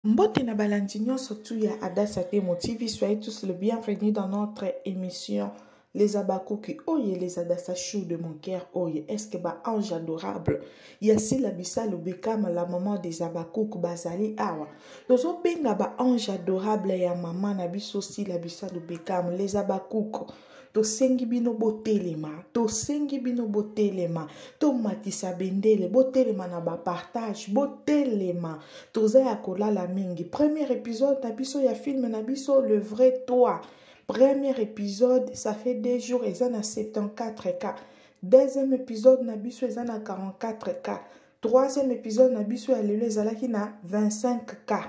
Mbote na balandi nyonso tu ya Adassa Temo TV, soyez tous le bienvenu dans notre émission Les Abakuki oye les Adassa Chou de mon cœur oye est-ce que ba ange adorable ya Sila Bisalu Bekama la maman des Abakuki bazali awa tozo benga ba ange adorable ya maman na biso Sila Bisalu Bekama les Abakuki tosengi bino botelema tosengi bino botelema tomatisa bendele botelema na bapartage botelema toza ya kolala mingi premier épisode na biso ya film na biso le vrai toi premier épisode ça fait deux jours eza na 74 cas deuxième épisode na biso eza na 44 cas troisième épisode na biso ya lelo ezalaki na 25 cas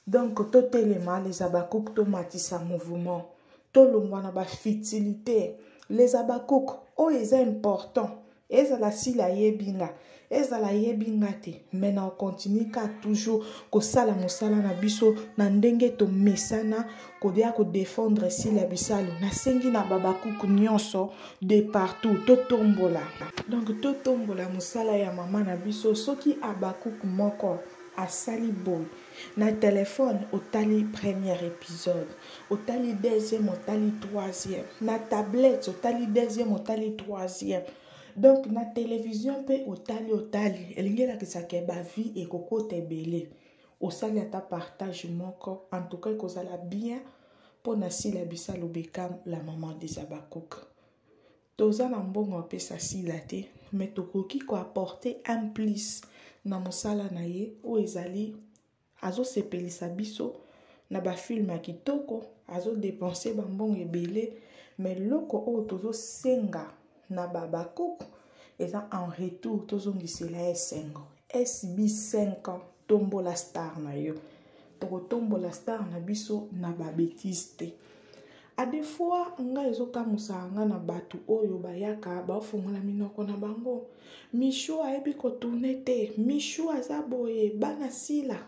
donc totelema les abakouk tomatisa mouvement tolongwa na bafutilité les abakouk oyo eza important ezala sila ayebi nga ezala ayebi nga te mai na okontinue ka toujours kosala mosala na biso na ndenge tomesana koya kodefendre sila bisalu nasengi na babakuk nyonso de partout totombola donc totombola mosala ya mama na biso soki abakuk moko asali boye na telefone otali première épisode otali deuxième otali troisième na tablette otali deuxième otali troisième donc na télévision mpe otali otali elingi elakisa ke bavie ekokota ebele osali ata partage moko en tout cas ekozala bien mpo na sila bisa lobekam la maman des abakuka toza na mbongo ya pesa sila te mais tokoki ko apporter un plus na mosala na ye oyo ezali azosepelisa biso na bafilme ya kitoko azodepense bambongo ebele me loko oyo tozosenga na babakoko eza en retour tozongisela esengo sb 5 ans tombola star na yo tokotombola star na biso na babetise te a des fois ngai ezokamusaka ngai na bato oyo bayaka baofungola minoko na bango mishu ayebi kotourne te mishu aza boye bana sila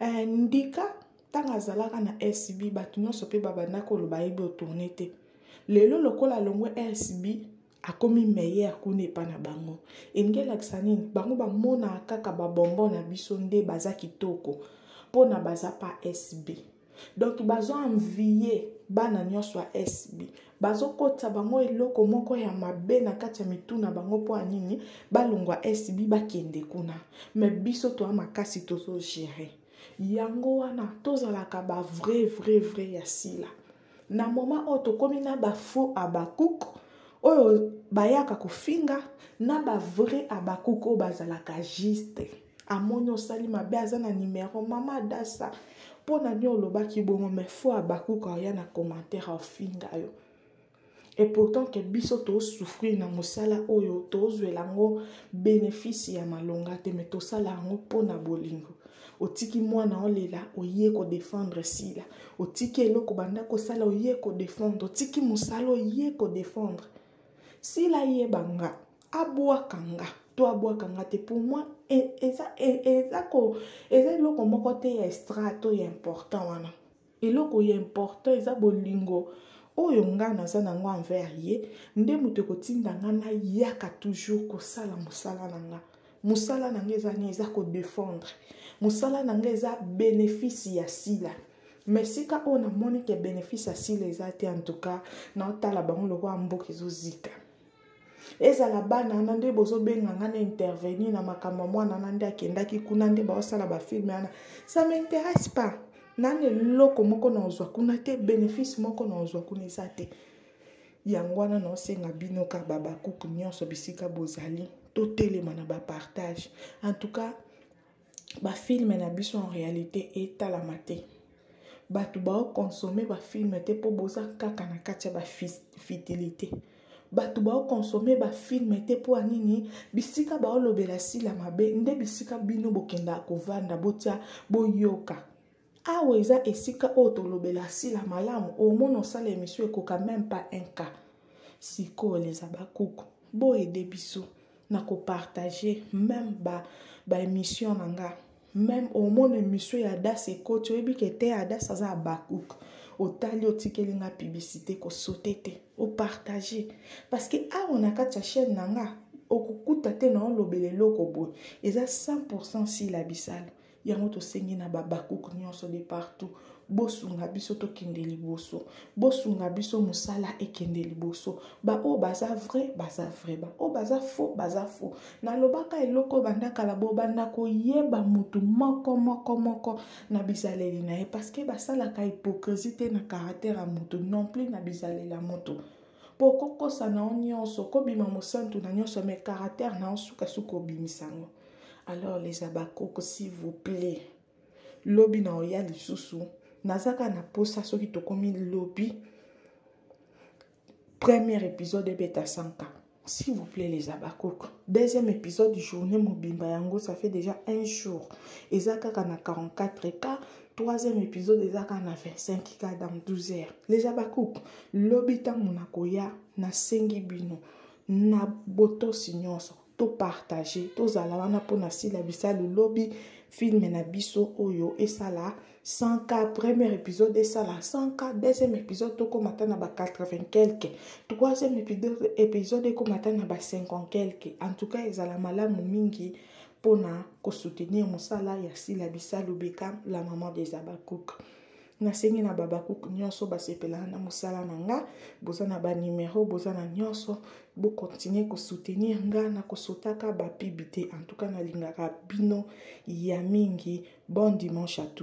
eh, ndika ntango azalaka na sb bato nyonso mpe babandaki koloba ayebi otourne te lelo lokola alongwe sb akomi meilleur kuna epa na bango elingi elakisa nini bango bamonaka kaka babonbon na biso nde baza kitoko mpo na baza pa sb donk bazoanviye bana nyonso ya sb bazokotisa bango eloko moko ya mabe na kati ya mitu na bango mpo ya nini balongwa sb bakende kuna me biso toya makasi tozogere yango wana tozalaka bavrai vrai vrai ya sila na moma oyo tokomi na bafaux abakuk oyo bayaka kofinga na bavrai abakuk oyo bazalaka juste amoni osali mabe aza na nimero mama adasa mpo na nini olobaki bongo me fo abakuk oya na commentaire ofinga yo et pourtant ke biso tosouffrir na mosala oyo tozwela yango bénéfice ya malonga te me tosala yango mpo na bolingo otiki mwana olela oye kodefendre sila otiki eloko banda kosala oye kodefendre otiki mosala oye kodefendre sila yeba nga abwaka nga to abwaka nga te pour moi e, eza e, eloko moko te ya estrate oyo important wana eloko ya important eza bolingo oyo ngai naza na yango envers ye nde moto ekotinda ngai nayaka toujours kosala mosala na ngai mosala na ngai eza nini eza kodefendre mosala na ngai eza benefisi ya sila me sika oyo namoni ke benefisi ya sila eza te en tout cas naotala bango lokola mboka ezozika ezala bana wana nde bozobenga nga na intervenir na makambo ya mwana wana nde akendaki kuna nde baosala bafilme wana ça m'intéresse pas nani eloko moko na ozwa kuna te bénéfice moko na ozwa kuna eza te yango wana naosenga bino ka babakuku nyonso bisika bozali totelema na bapartage en tout cas bafilme na biso en réalité etalama te bato baokonsome bafilme te mpo boza kaka na kati ya bafitilité bato baokonsome bafilme te mpo ya nini bisika baolobela sila mabe nde bisika bino bokendaka kovanda botya boyoka awa eza esika oyo tolobela sila malamu omona osala emission ekoka meme pas un cas sikoyo les abakuku boyede biso na kopartage meme ba, ba emission na nga meme omona emission ya adas ekoti oyebi ke te adas aza abakuk otali otikeli nga publicité kosote te opartage parce que awa na kati ya chaîne na nga okokuta te na olobela eloko boye eza 100 sila bisala yango tosengi na babakuku nyonso de partout bosunga biso tokende liboso bosunga biso mosala ekende liboso baoyo baza vrai baza vrai baoyo baza faux baza faux nalobaka eloko banda kala bobanda koyeba motu moko moko moko na bizaleli na ye parceke basalaka hypocrisie te na caractere ya motu non plus na bizaleli ya motu mpo kokosa na yo nyonso kobima mosantu na nyonso me caractère na yo sukasuka obimisa yango alors les abakoko s'il vous plaît lobi na oya lisusu nazaka na mposa soki tokomi lobi premier épisode ebeta 100k s'il vous plaît les abakoko deuxième épisode journée mobimba yango ça fait déjà un jour eza kaka na 44 cas troisième épisode eza kaka na 25 ka dans 12 heures leja bakuku lobi ntango nakoya nasengi bino na botosi nyonso topartage tozala wana mpo na sila bisalu lobi filme na biso oyo esala 100 ka premier épisode esala 100 ka deuxième épisode tokóma ata na ba 80 quelque troisième épisode ekóma ata na ba 50 quelque en tout cas ezala malamu mingi mpo na kosoutenir mosala ya sila bisalu bekam la maman des habacouk nasengi na babacouk nyonso basepelaka na mosala na nga boza na banimero boza na nyonso bokontinue kosoutenir nga na kosotaka bapibi te en tout cas nalingaka bino ya mingi bon dimanche à tout